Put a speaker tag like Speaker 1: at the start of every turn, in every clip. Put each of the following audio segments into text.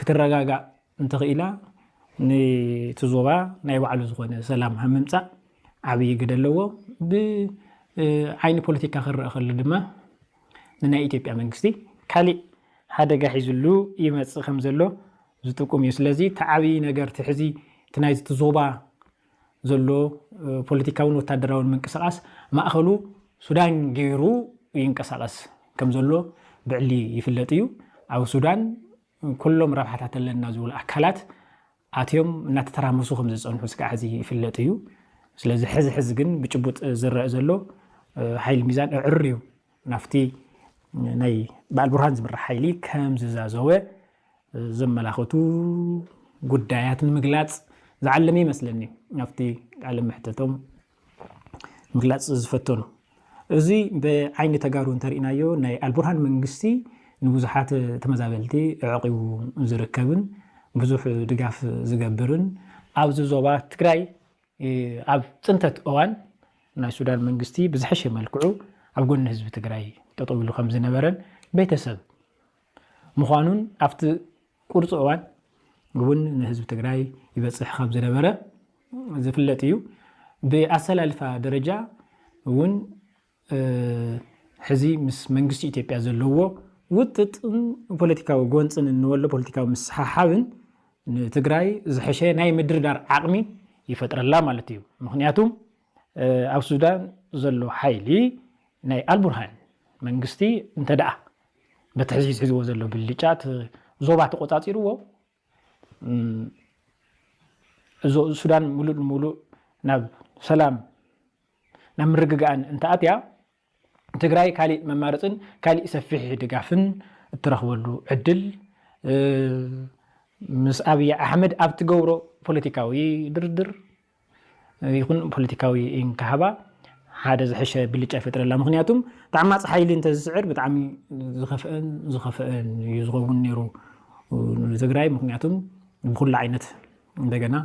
Speaker 1: ክትረጋጋእ እንተኽኢላ ንቲ ዞባ ናይ ባዕሉ ዝኾነ ሰላም ኣብ ምምፃእ ዓብዪ ግደ ኣለዎ። ብዓይኒ ፖለቲካ ክረአ ከሎ ድማ ንናይ ኢትዮጵያ መንግስቲ ካሊእ ሓደጋ ሒዝሉ ይመፅእ ከምዘሎ ዝጥቁም እዩ። ስለዚ እቲ ዓብዪ ነገር እቲ ሕዚ እቲ ናይዚ እቲ ዞባ ዘሎ ፖለቲካውን ወታደራውን ምንቅስቓስ ማእኸሉ ሱዳን ገይሩ ይንቀሳቐስ ከምዘሎ ብዕሊ ይፍለጥ እዩ። ኣብ ሱዳን ኩሎም ረብሓታት ኣለና ዝብሉ ኣካላት ኣትዮም እናተተራመሱ ከም ዝፀንሑ ስጋዕ ሕዚ ይፍለጥ እዩ። ስለዚ ሕዚ ሕዚ ግን ብጭቡጥ ዝረአ ዘሎ ሓይሊ ሚዛን እዕር እዩ ናብቲ ናይ በዓል ቡርሃን ዝምራሕ ሓይሊ ከም ዝዛዘወ ዘመላኽቱ ጉዳያት ንምግላፅ ዝዓለመ ይመስለኒ ናብቲ ቃለ መሕተቶም ምግላፅ ዝፈተኑ እዚ ብዓይኒ ተጋሩ እንተሪእናዮ ናይ ኣልቡርሃን መንግስቲ ንብዙሓት ተመዛበልቲ ዕቂቡ ዝርከብን ብዙሕ ድጋፍ ዝገብርን ኣብዚ ዞባ ትግራይ ኣብ ፅንተት እዋን ናይ ሱዳን መንግስቲ ብዝሐሸ መልክዑ ኣብ ጎኒ ህዝቢ ትግራይ ጠጠው ኢሉ ከምዝነበረን ቤተሰብ ምዃኑን ኣብቲ ቁርፂ እዋን እውን ንህዝቢ ትግራይ ይበፅሕ ከምዝነበረ ዝፍለጥ እዩ። ብኣሰላልፋ ደረጃ እውን ሕዚ ምስ መንግስቲ ኢትዮጵያ ዘለዎ ውጥጥን ፖለቲካዊ ጎንፅን እንወሎ ፖለቲካዊ ምስሓሓብን ንትግራይ ዝሐሸ ናይ ምድርዳር ዓቕሚ ይፈጥረላ ማለት እዩ። ምክንያቱ ኣብ ሱዳን ዘሎ ሓይሊ ናይ ኣልቡርሃን መንግስቲ እንተደኣ በቲ ሕዚ ሒዝዎ ዘሎ ብልጫ እቲ ዞባ ተቆፃፂርዎ እዞ ሱዳን ሙሉእ ንሙሉእ ናብ ሰላም ናብ ምርግጋእን እንተኣትያ ትግራይ ካሊእ መማረፅን ካሊእ ሰፊሕ ድጋፍን እትረኽበሉ ዕድል ምስ ኣብይ ኣሕመድ ኣብ ትገብሮ ፖለቲካዊ ድርድር ይኹን ፖለቲካዊ እንካሃባ ሓደ ዝሐሸ ብልጫ ይፈጥረላ ምክንያቱም ተዓማፂ ሓይሊ እንተዝስዕር ብጣዕሚ ዝኸፍእን ዝኸፍእን እዩ ዝኸውን ነይሩ ንትግራይ ምክንያቱም ብኩሉ ዓይነት እንደገና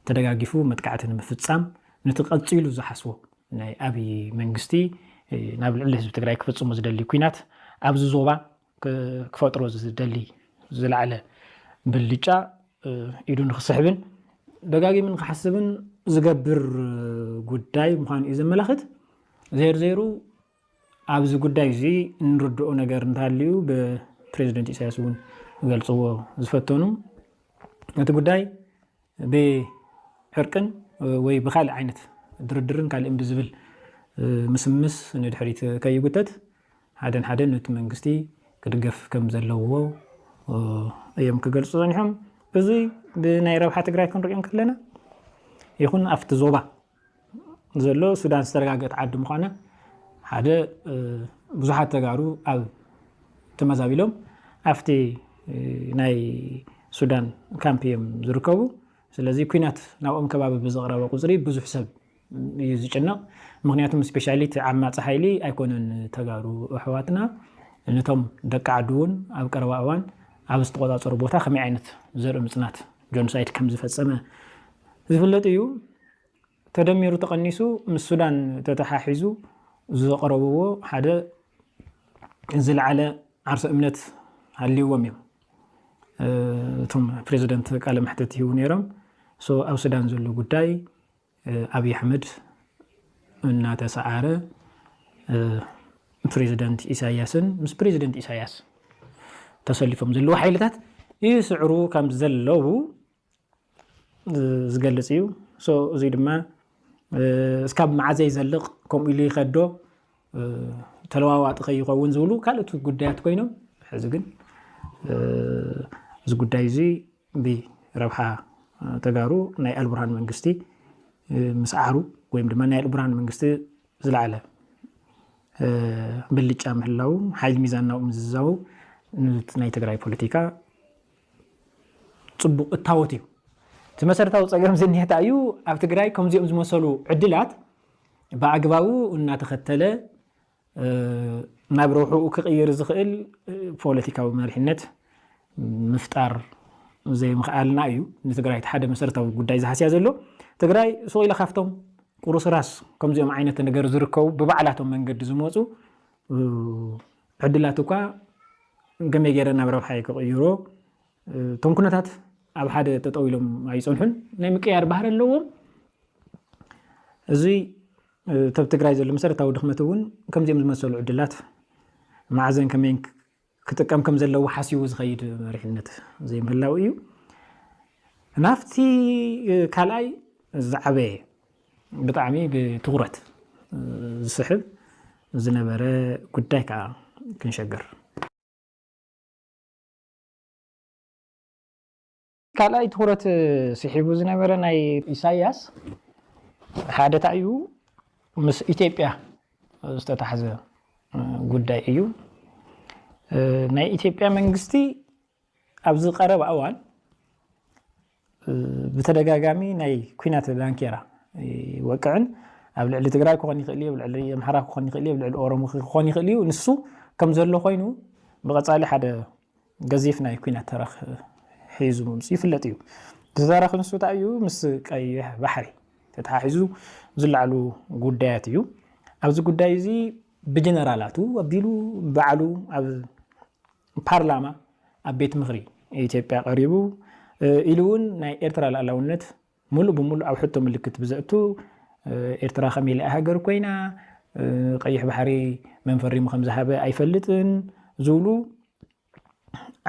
Speaker 1: ተደጋጊፉ መጥቃዕቲ ንምፍፃም ነቲ ቀፂሉ ዝሓስቦ ናይ ኣብይ መንግስቲ ናብ ልዕሊ ህዝቢ ትግራይ ክፍፅሙ ዝደሊ ኩናት ኣብዚ ዞባ ክፈጥሮ ዝደሊ ዝለዓለ ብልጫ ኢዱ ንክስሕብን ደጋጊሙ ንክሓስብን ዝገብር ጉዳይ ምዃኑ እዩ ዘመላኽት ዜርዜሩ ኣብዚ ጉዳይ እዚ እንርድኦ ነገር እንተሃልዩ ብፕሬዚደንት ኢሳያስ እውን ገልፅዎ ዝፈተኑ እቲ ጉዳይ ብዕርቅን ወይ ብካልእ ዓይነት ድርድርን ካልእን ብዝብል ምስምስ ንድሕሪት ከይጉተት ሓደን ሓደን ነቲ መንግስቲ ክድገፍ ከም ዘለዎ እዮም ክገልጹ ጸኒሖም። እዚ ብናይ ረብሓ ትግራይ ክንሪኦ እንከለና ይኹን ኣብቲ ዞባ ዘሎ ሱዳን ዝተረጋገት ዓዲ ምዃና ሓደ ብዙሓት ተጋሩ ኣብ ተመዛቢሎም ኣብቲ ናይ ሱዳን ካምፕ እዮም ዝርከቡ ስለዚ ኩናት ናብኦም ከባቢ ብዝቕረበ ቁፅሪ ብዙሕ ሰብ እዩ ዝጭነቕ ምክንያቱ ስፔሻሊቲ ዓማፂ ሓይሊ ኣይኮነን ተጋሩ ኣሕዋትና ነቶም ደቂ ዓዲ እውን ኣብ ቀረባ እዋን ኣብ ዝተቆፃፀሩ ቦታ ከመይ ዓይነት ዘርኢ ምፅናት ጆንሳይድ ከም ዝፈጸመ ዝፍለጥ እዩ። ተደሚሩ ተቐኒሱ ምስ ሱዳን ተተሓሒዙ ዘቕረብዎ ሓደ ዝለዓለ ዓርሰ እምነት ሃልይዎም እዮም እቶም ፕሬዚደንት ቃለ መሕተት ይህቡ ነይሮም። ኣብ ሱዳን ዘሎ ጉዳይ ኣብይ ኣሕመድ እናተሰዓረ ፕሬዚደንት ኢሳያስን ምስ ፕሬዚደንት ኢሳያስ ተሰሊፎም ዘለዉ ሓይልታት ይስዕሩ ከም ዘለዉ ዝገልፅ እዩ እዙይ ድማ እስካብ መዓዘ ይዘልቕ ከምኡ ኢሉ ይኸዶ ተለዋዋጢ ከይኸውን ዝብሉ ካልኦት ጉዳያት ኮይኖም ሕዚ ግን እዚ ጉዳይ እዚ ብ ረብሓ ተጋሩ ናይ ኣልቡርሃን መንግስቲ ምስዓሩ ወይም ድማ ናይ ኣልቡርሃን መንግስቲ ዝለዓለ ብልጫ ምህላው ሓይል ሚዛን ናብኡ ምዝዛው ንቲ ናይ ትግራይ ፖለቲካ ፅቡቕ እታወት እዩ። እቲ መሰረታዊ ፀገም ዝኒሀ ታይ እዩ? ኣብ ትግራይ ከምዚኦም ዝመሰሉ ዕድላት ብኣግባቡ እናተኸተለ ናብ ረብሕኡ ክቕይር ዝኽእል ፖለቲካዊ መሪሕነት ምፍጣር ዘይምኽኣልና እዩ ንትግራይ እቲ ሓደ መሰረታዊ ጉዳይ ዝሃስያ ዘሎ። ትግራይ ሱቕ ኢላ ካብቶም ቁርስራስ ከምዚኦም ዓይነት ነገር ዝርከቡ ብባዕላቶም መንገዲ ዝመፁ ዕድላት እኳ ከመይ ገይረ ናብ ረብሓ ክቕይሮ እቶም ኩነታት ኣብ ሓደ ጠጠው ኢሎም ኣይፀንሑን ናይ ምቅያር ባህሪ ኣለዎም እዚ እቲ ኣብ ትግራይ ዘሎ መሰረታዊ ድኽመት እውን ከምዚኦም ዝመሰሉ ዕድላት መዓዘን ከመይን ክጥቀም ከም ዘለዎ ሓሲቡ ዝኸይድ መሪሕነት ዘይምህላው እዩ። ናብቲ ካልኣይ ዝዓበየ ብጣዕሚ ብትኹረት ዝስሕብ ዝነበረ ጉዳይ ከዓ ክንሸገር ካልኣይ ትኹረት ስሒቡ ዝነበረ ናይ ኢሳያስ ሓደ ታይ እዩ ምስ ኢትዮጵያ ዝተታሕዘ ጉዳይ እዩ። ናይ ኢትዮጵያ መንግስቲ ኣብዚ ቀረባ እዋን ብተደጋጋሚ ናይ ኩናት ዳንኬራ ይወቅዕን ኣብ ልዕሊ ትግራይ ክኾን ይኽእል እዩ፣ ኣብ ልዕሊ ኣምሓራ ክኾን ይኽእል እዩ፣ ኣብ ልዕሊ ኦሮሞ ክኾን ይኽእል እዩ። ንሱ ከም ዘሎ ኮይኑ ብቐፃሊ ሓደ ገዚፍ ናይ ኩናት ተረኽ ሒዙ ምምጽኡ ይፍለጥ እዩ። እቲ ተረኽ ንሱ ታይ እዩ ምስ ቀይሕ ባሕሪ ተተሓሒዙ ዝለዓሉ ጉዳያት እዩ። ኣብዚ ጉዳይ እዚ ብጀነራላቱ ኣቢሉ ባዕሉ ኣብ ፓርላማ ኣብ ቤት ምኽሪ ኢትዮጵያ ቀሪቡ ኢሉ እውን ናይ ኤርትራ ልኣላውነት ምሉእ ብምሉእ ኣብ ሕቶ ምልክት ብዘእቱ ኤርትራ ከመይ ኢላ እያ ሃገር ኮይና፣ ቀይሕ ባሕሪ መን ፈሪሙ ከም ዝሃበ ኣይፈልጥን ዝብሉ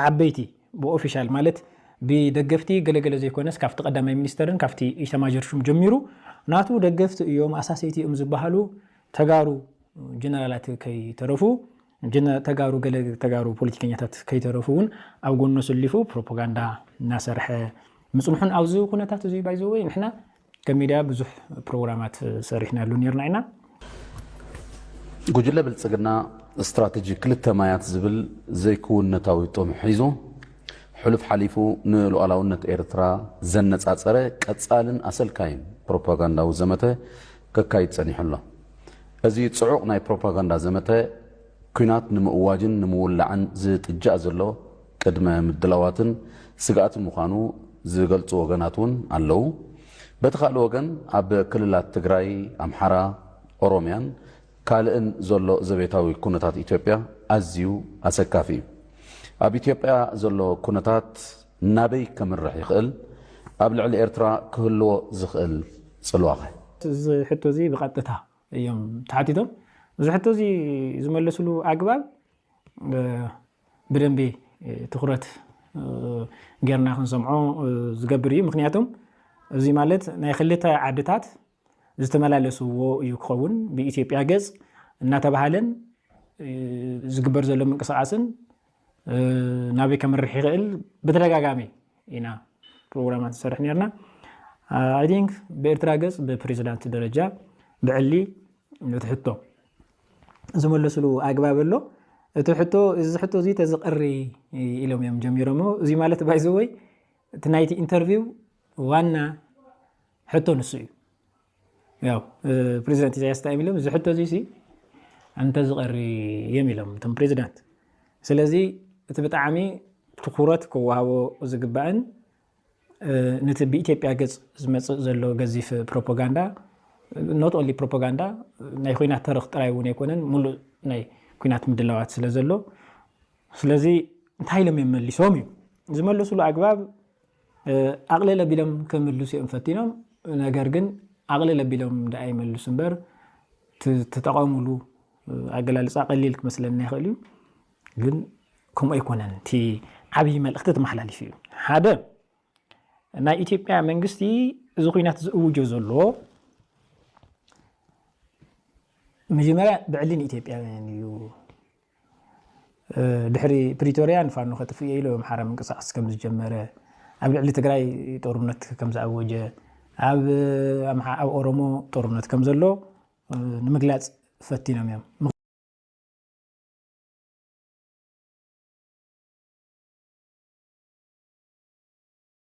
Speaker 1: ዓበይቲ ብኦፊሻል ማለት ብደገፍቲ ገለገለ ዘይኮነስ ካብቲ ቀዳማይ ሚኒስተርን ካብቲ ኢታማዦር ሹም ጀሚሩ ናቱ ደገፍቲ እዮም ኣሳሰይቲ እዮም ዝበሃሉ ተጋሩ ጀነራላት ከይተረፉ ግን ተጋሩ ገለ ተጋሩ ፖለቲከኛታት ከይተረፉ ውን ኣብ ጎኑ ኣሰሊፉ ፕሮፖጋንዳ እናሰርሐ ምጽንሑን ኣብዚ ኩነታት እዚ ባይ ዘ ወይ ንሕና ከም ሚድያ ብዙሕ ፕሮግራማት ሰሪሕናሉ ኔርና ኢና። ጉጅለ
Speaker 2: ብልጽግና ስትራተጂ ክልተ ማያት ዝብል ዘይክውንነታዊ ጥም ሒዙ ሕሉፍ ሓሊፉ ንሉኣላውነት ኤርትራ ዘነጻጸረ ቀጻልን ኣሰልካይን ፕሮፓጋንዳዊ ዘመተ ከካይድ ጸኒሑ ኣሎ። እዚ ጽዑቕ ናይ ፕሮፓጋንዳ ዘመተ ኲናት ንምእዋጅን ንምውላዕን ዝጥጃእ ዘሎ ቅድመ ምድላዋትን ስግኣትን ምዃኑ ዝገልጹ ወገናት እውን ኣለዉ። በቲ ካልእ ወገን ኣብ ክልላት ትግራይ፣ ኣምሓራ፣ ኦሮምያን ካልእን ዘሎ ዘቤታዊ ኩነታት ኢትዮጵያ ኣዝዩ ኣሰካፊ እዩ። ኣብ ኢትዮጵያ ዘሎ ኩነታት ናበይ ከምርሕ ይኽእል? ኣብ ልዕሊ ኤርትራ ክህልዎ ዝኽእል ጽልዋኸ? እዚ ሕቶ
Speaker 1: እዚ ብቐጥታ እዮም ተሓቲቶም። እዚ ሕቶ እዚ ዝመለስሉ ኣግባብ ብደንቢ ትኹረት ጌርና ክንሰምዖ ዝገብር እዩ። ምክንያቱም እዚ ማለት ናይ ክልተ ዓድታት ዝተመላለስዎ እዩ ክኸውን። ብኢትዮጵያ ገጽ እናተባህለን ዝግበር ዘሎ ምንቅስቓስን ናበይ ከምርሕ ይኽእል ብተደጋጋሚ ኢና ፕሮግራማት ዝሰርሕ ነርና ኣይ ቲንክ ብኤርትራ ገፅ ብፕሬዚዳንት ደረጃ ብዕሊ እቲ ሕቶ ዝመለስሉ ኣግባብ ኣሎ እቲ ሕቶ እዚ ሕቶ እዚ ተዝቐሪ ኢሎም እዮም ጀሚሮሞ እዚ ማለት ባይዘወይ እቲ ናይቲ ኢንተርቪው ዋና ሕቶ ንሱ እዩ ያው ፕሬዚዳንት ኢሳያስ እንታይ ኢሎም እዚ ሕቶ እዚሲ እንተዝቐሪ እዮም ኢሎም እቶም ፕሬዚዳንት ስለዚ እቲ ብጣዕሚ ትኩረት ክወሃቦ ዝግባእን ነቲ ብኢትዮጵያ ገፅ ዝመፅእ ዘሎ ገዚፍ ፕሮፓጋንዳ ኖት ኦንሊ ፕሮፓጋንዳ ናይ ኩናት ተረኽ ጥራይ እውን ኣይኮነን ሙሉእ ናይ ኩናት ምድላዋት ስለ ዘሎ ስለዚ እንታይ ኢሎም እዮም መሊሶም እዩ ዝመለስሉ ኣግባብ ኣቕልል ኣቢሎም ክምልሱ እዮም ፈቲኖም፣ ነገር ግን ኣቕልል ኣቢሎም ደኣ ይመልሱ እምበር እቲ ዝተጠቐምሉ ኣገላልፃ ቀሊል ክመስለና ይኽእል እዩ፣ ግን ከምኡ ኣይኮነን። እቲ ዓብዪ መልእኽቲ ተመሓላሊፉ እዩ። ሓደ ናይ ኢትዮጵያ መንግስቲ እዚ ኩናት ዝእውጆ ዘሎ መጀመርያ ብዕሊ ንኢትዮጵያውያን እዩ ድሕሪ ፕሪቶርያ ንፋኖ ከጥፍእ እየ ኢሉ ኣብ ኣምሓራ ምንቅስቓስ ከም ዝጀመረ፣ ኣብ ልዕሊ ትግራይ ጦርነት ከም ዝኣወጀ፣ ኣብ ኦሮሞ ጦርነት ከም ዘሎ ንምግላፅ ፈቲኖም እዮም።